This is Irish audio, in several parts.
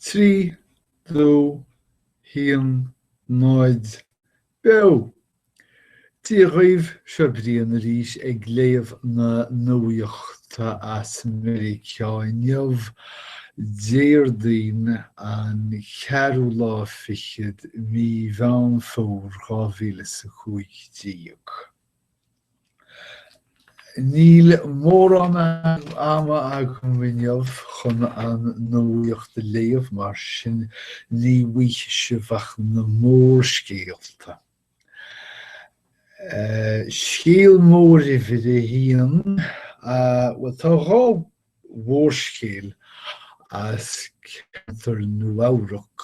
Trí, dó, haon, náid, beo! Dia dhaoibh, seo Brian arís ag léamh na nuachta as Meiriceá inniu, Déardaoin an ceathrú lá fichead de mhí Mheán Fómhair dhá mhíle is a cúig déag. Níl mórán ama agam inniu chun an nuaíocht a léamh, mar sin ní bhfaighidh sibh ach na mórscéalta. Scéal mór uimhir a haon, bhuel tá dhá mhórscéal as ceantar Nua-Eabhrac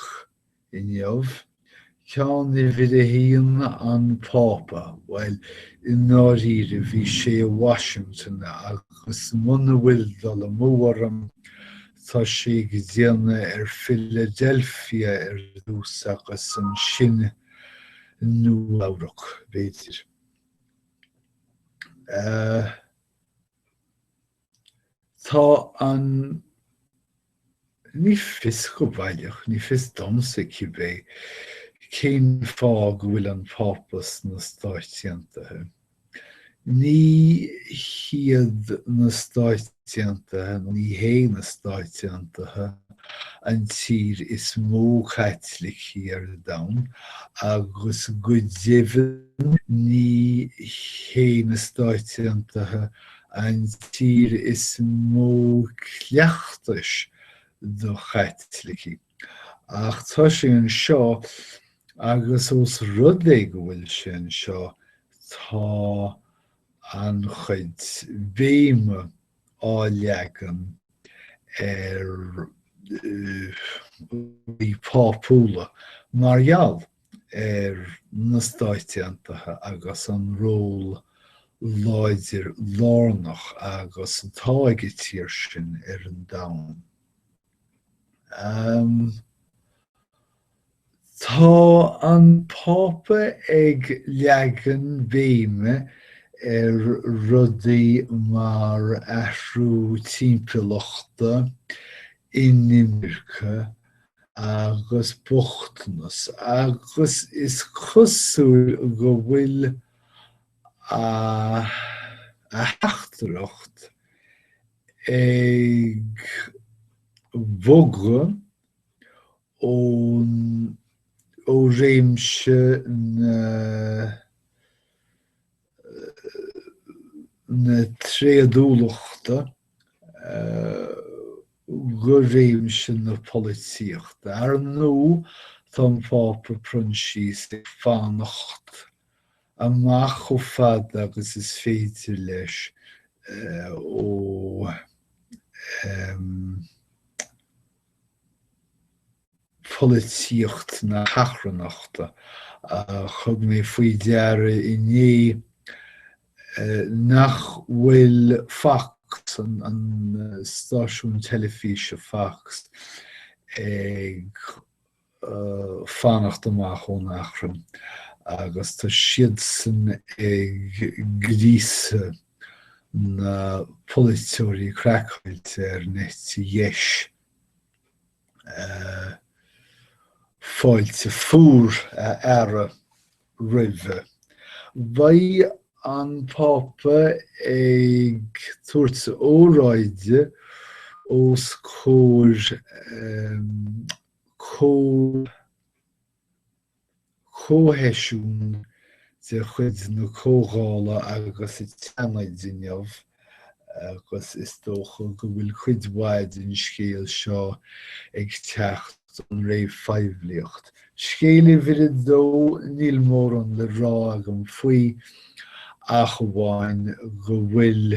Inniu, ceann uimhir a haon, an Pápa, bhuel, i ndáiríre, bhí sé i Washington agus muna bhfuil dul amú orm, tá sé ag déanamh ar Philadelphia ar dtús agus ansin Nua-Eabhrac, b'fhéidir. Tá an. Ní fios go baileach, ní fios domsa cibé, cén fáth go bhfuil an Pápa sna Stáit Aontaithe. Ní hiad na Stáit Aontaithe, ní hé na Stáit Aontaithe an tír is mó Caitlicí ar domhan, agus go deimhin ní hé na Stáit Aontaithe an tír is mó cleachtais do Chaitlicigh, ach tá sé anseo agus os rud é go bhfuil sé anseo tá an-chuid béime á leagan ar rudaí pápúla mar gheall ar na Stáit Aontaithe agus an ról láidir lárnach agus atá ag an tír sin ar an domhan. Um, tá an Pápa ag leagan béime ar rudaí mar athrú timpeallachta, inimirce agus bochtanas agus is cosúil go bhfuil a theachtaireacht ag bogadh ó réimse na. na tréadúlachta go réimse na polaitíochta. Ar ndóigh, tá an Pápa Proinsias ag fanacht amach chomh fada agus is féidir leis ó pholaitíocht na hachrannachta. Thug mé faoi deara inné nach bhfuil Fox, an stáisiún teilifíse Fox, ag fanacht amach ón achrann agus tá siadsan ag gríosadh na bpolaiteoirí craiceáilte ar an eite dheis. fáilte fuar a fhearadh roimhe. Beidh an Pápa ag tabhairt óráide os comhair Comh. Comhsheisiún de chuid na Comhdhála agus an tSeanaid inniu agus is dócha go bhfuil cuid mhaith den scéal seo ag teacht ón réamhphoiblíocht. Scéal uimhir a dó, níl mórán le rá agam faoi ach amháin go bhfuil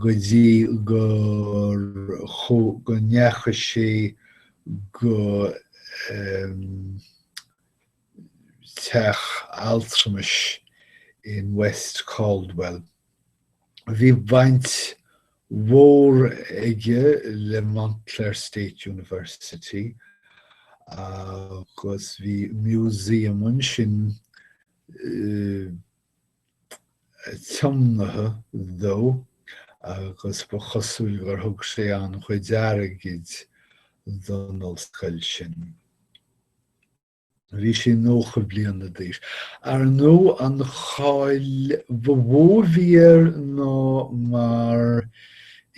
go dtí go ndeacha sé go teach altramais in West Caldwell. Bhí baint mhór aige le Montclair State University agus bhí museum ansin tiomnaithe dó agus ba chosúil gur thug sé an-chuid airgid don ollscoil sin. Bhí sé nócha bliana d'aois. Ar ndóigh, an cháil ba mhó a bhí air ná mar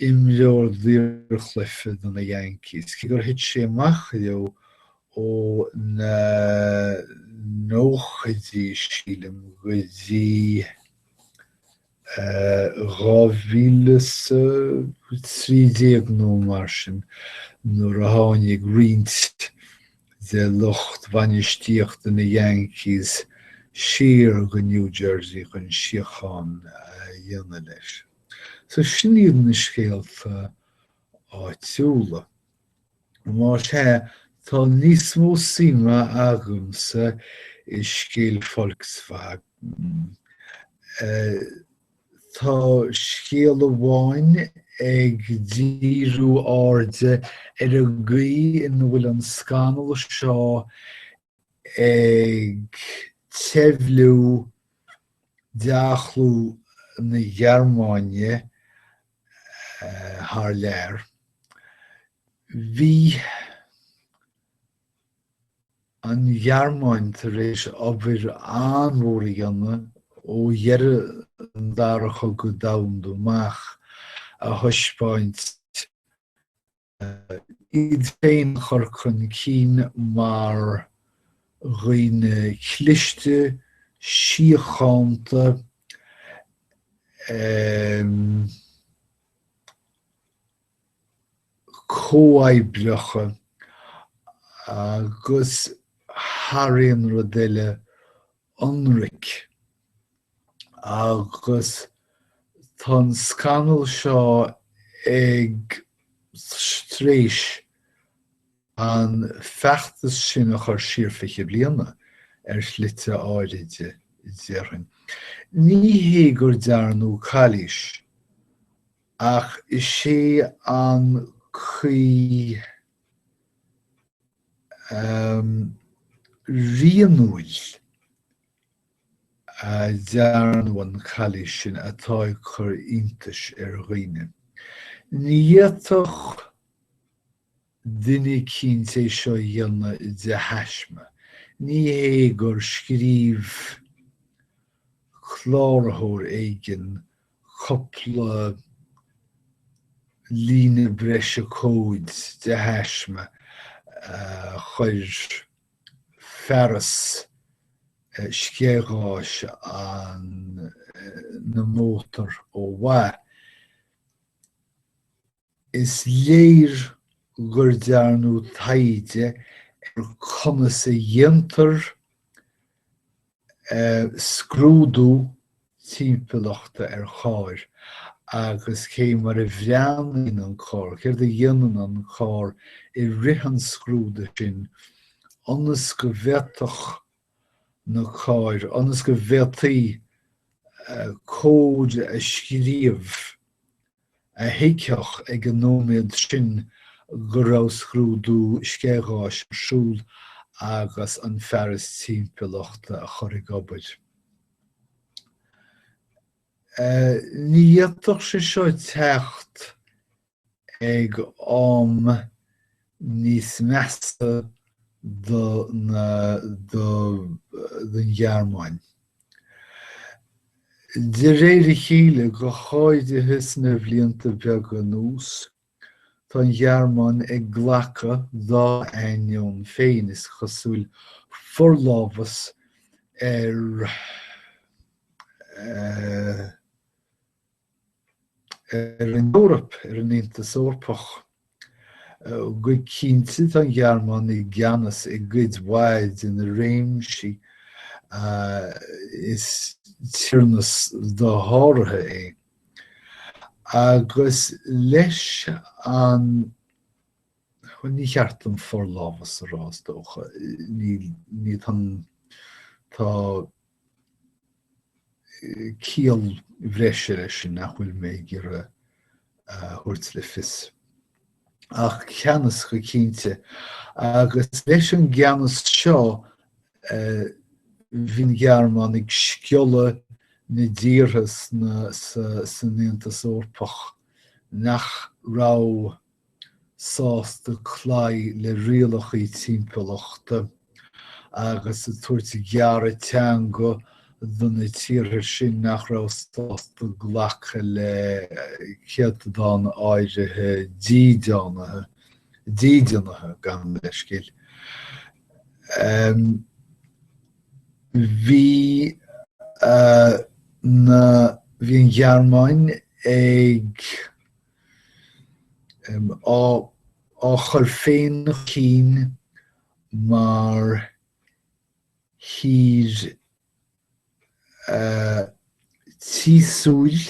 imreoir daorchluife do na Yankees, cé gur thit sé amach leo ó na nóchaidí, sílim, go dtí 2013 nó mar sin, nuair a tháinig roinnt de lucht bhainistíochta na Yankees siar go New Jersey chun síochán a dhéanamh leis. So sin iad na scéalta áitiúla. Más ea, tá níos mó suime agamsa i scéal Volkswagen. Tá scéal amháin ag díriú airde ar an gcaoi ina bhfuil an scannal seo ag teimhliú dea-chlú na Gearmáine thar lear. Bhí an Ghearmáin tar éis obair an-mhór a dhéanamh ó dheireadh an Dara Chogadh Domhanda amach ag taispeáint iad féin a chur chun cinn mar dhaoine cliste, síochánta, comhoibreacha agus, thar aon rud eile, ionraic. Agus tá an scannal seo tar éis an feachtas sin a chur siar fiche bliana, ar shlite áirithe, déarfainn. Ní hé gur dearnadh calaois, ach is é an chaoi rianúil a ndearnadh an chalaois sin atá ag cur iontais ar dhaoine. Ní fhéadfadh duine ar bith é seo a dhéanamh de thaisme. Ní hé gur scríobh cláraitheoir éigin cúpla líne breise cóid de thaisme a chuir fearas sceithgháis na mótar ó mhaith. Is léir gur dearnadh taighde ar conas a dhéantar scrúdú timpeallachta ar chairr agus cé mar a bhreathnaíonn an carr, céard a dhéanann an carr i rith an scrúdaithe sin ionas go bhféadfadh na cairr, ionas go bhféadfaí cód a scríobh. a thuigfeadh ag an nóiméad sin go raibh scrúdú sceitheadh-gháis ar siúl agus an fearas timpeallachta a chur ag obair. Ní fhéadfadh sé seo teacht ag am níos measa don Ghearmáin. De réir a chéile, go háirithe sna bhlianta beaga anuas, tá an Ghearmáin ag glacadh, dá ainneoin féin, is cosúil, forlámhas ar. ar an Eoraip, ar an Aontas Eorpach. Go cinnte, tá an Ghearmáin i gceannas i gcuid mhaith de na réimsí is tiarnas dosháraithe é. Agus leis an, bhuel, ní ceart dom forlámhas a rá, is dócha, níl, tá, tá, ciall bhreise leis sin nach bhfuil mé ag iarraidh a thabhairt le fios. Ach ceannas go cinnte. Agus leis an gceannas seo bhí an Ghearmáin ag sciolladh na dtíortha san Aontas Eorpach nach raibh sásta cloí le rialacha timpeallachta agus ag tabhairt gearradh teanga do na tíortha sin nach raibh sásta glacadh le céatadán áirithe dídeanaithe, dídeanaithe gan leithscéal. Bhí an Ghearmáin ag. á chur féin chun cinn mar thír tíosúil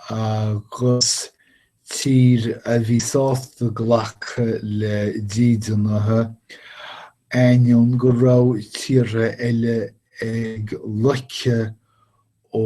agus tír a bhí sásta glacadh le dídeanaithe, ainneoin go raibh tíortha eile ag loiceadh ó.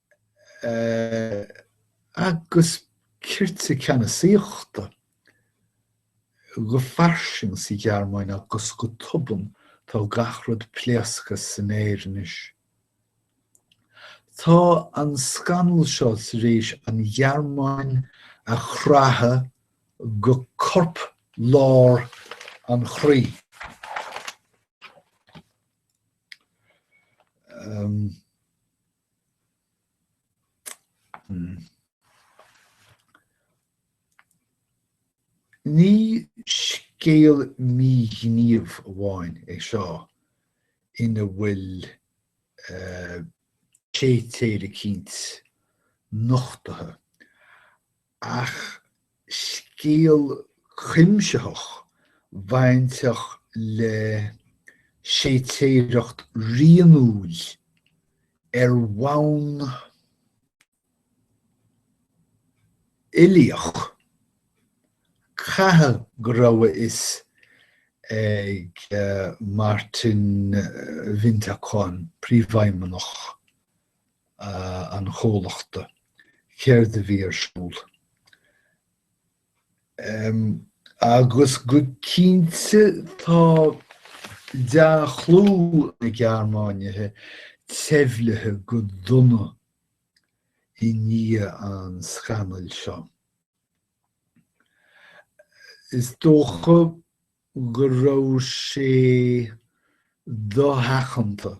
agus cirte ceannasaíochta go fairsing sa Ghearmáin agus go tobann tá gach rud pléasctha san aer anois. Tá an scannal seo tar éis an Ghearmáin a chraitheadh go corp lár an chroí. Ní scéal míghníomh amháin é seo ina bhfuil séitéir eicínt nochtaithe, Ach scéal cuimsitheach bainteach le séitéireacht rianúil ar bhonn uilíoch, caithfidh go raibh a fhios ag Martin Winterkorn, Príomhfheidhmeannach an chomhlachta, céard a bhí ar siúl, agus go cinnte tá dea-chlú na Gearmáine teimhlithe go dona i ndiaidh an scannail seo. Is dócha go raibh sé dosheachanta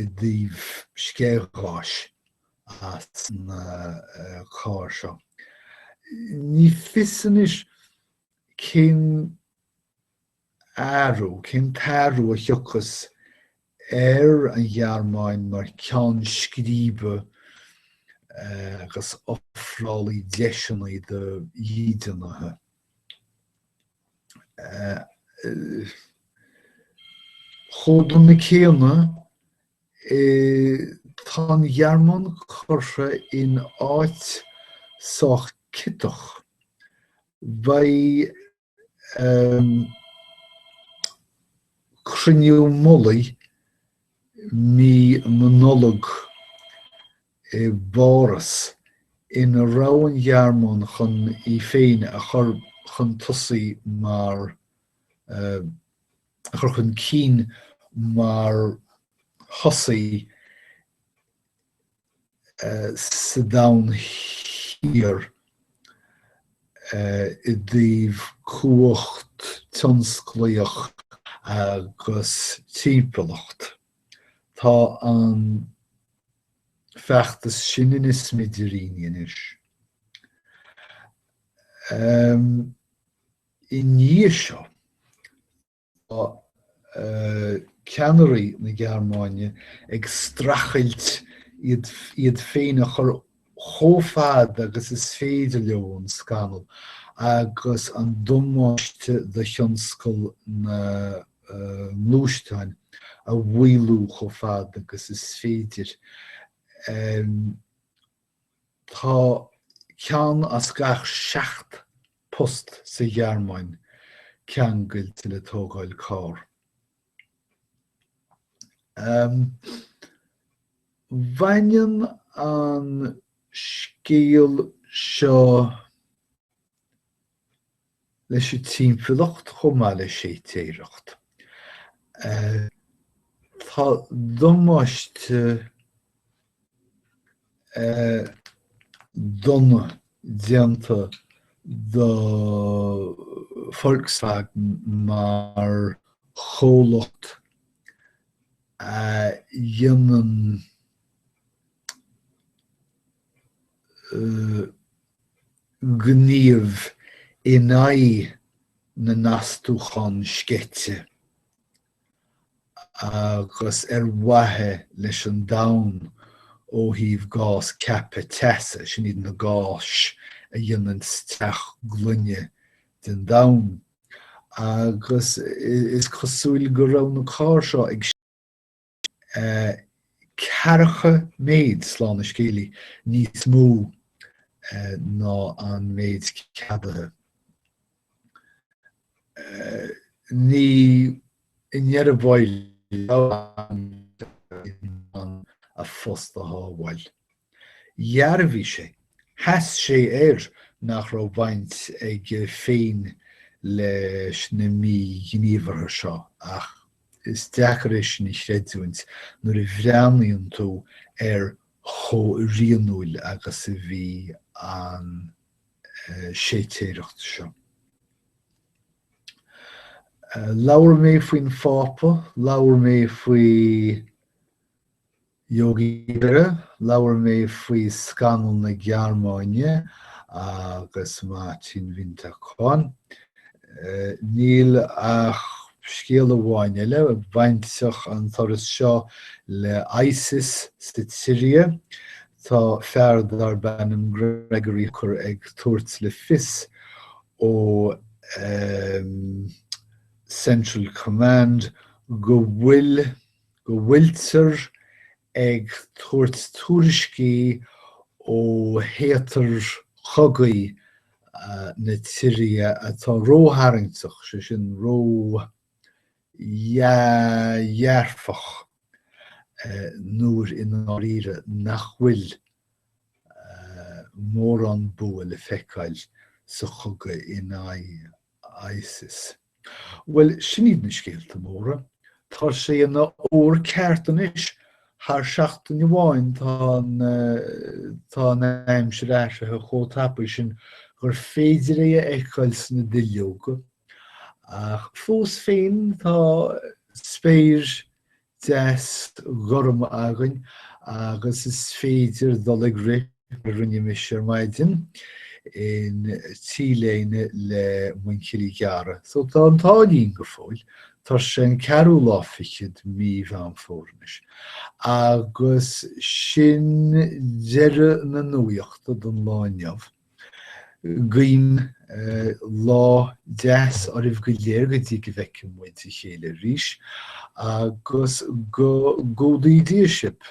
i dtaobh sceithgháis as na cairr seo. Ní fios anois cén athrú, cén t-athrú a thiocfas ar an Ghearmáin mar cheann scríbe agus ofrálaí deiseanna do dhídeanaithe. Ag an am céanna, tá an Ghearmáin curtha in áit sách ciotach. Beidh cruinniú mullaigh mí na Nollag i bPáras, ina raibh an Ghearmáin chun í féin a chur chun tosaigh mar, a chur chun cinn mar thosaí sa Domhan Thiar i dtaobh cumhacht thionsclaíoch agus timpeallacht. Tá an. feachtas sin ina smidiríní anois. I ndiaidh seo, tá ceannairí na Gearmáine ag streachailt iad féin a chur chomh fada agus is féidir leo ón scannal agus an damáiste do thionscal na ngluaisteáin a mhaolú chomh fada agus is féidir. Tá ceann as gach seacht post sa Ghearmáin ceangailte le tógáil carr. Baineann an scéal seo leis an timpeallacht chomh maith le séitéireacht. Tá damáiste dona déanta do Volkswagen mar chomhlacht a dhéanann gníomh in aghaidh na n-astúchán sceite agus ar mhaithe leis an domhan ó thaobh gás ceaptha teasa, sin iad na gáis a dhéanann teach gloine den domhan, agus is cosúil go raibh na cairr seo ag. ceathracha mhéid slán a scéalaigh níos mó ná an méid ceadaithe. Ní in ann a bhí sé a phost a shábháil. Dhearbhaigh sé sheas sé air nach raibh baint aige féin leis na míghníomhartha seo ach. Is deacair é sin a chreidiúint nuair a bhreathnaíonn tú ar chomh rianúil agus a bhí an séitéireacht seo. Labhair mé faoin Phápa, labhair mé faoi Yogi Berra, Labhair mé faoi scannal na Gearmáine agus Martin Winterkorn. Níl ach scéal amháin eile, bainteach an turas seo le ISIS sa tSiria. Tá fear darb ainm Gregory Hooker ag tabhairt le fios ó Central Command go bhfuil go bhfuiltear ag tabhairt tuairiscí ó théatar cogaidh na tSiria atá rótharraingteach, sé sin, ródhearfach, nuair i ndáiríre nach bhfuil mórán bua le feiceáil sa chogadh in aghaidh ISIS. Bhuel, sin iad na scéalta móra. Tá sé ina fhómhar ceart anois, thar seachtain amháin tá an aimsir athraithe chomh tapaidh sin gur féidir é a fheiceáil sna duilleoga, ach fós féin tá spéir deas gorm againn agus is féidir dul ag rith rinne mise ar maidin in T-léine le muinchillí gearra so tá an t-ádh linn go fóill. Tá sé an ceathrú lá fichead de mí Mheán Fómhair anois. Agus sin deireadh na nuachta don lá inniu. Guím lá deas oraibh go léir go dtí go bhfeicfidh muid a chéile arís, agus go gcumhdaí Dia sibh.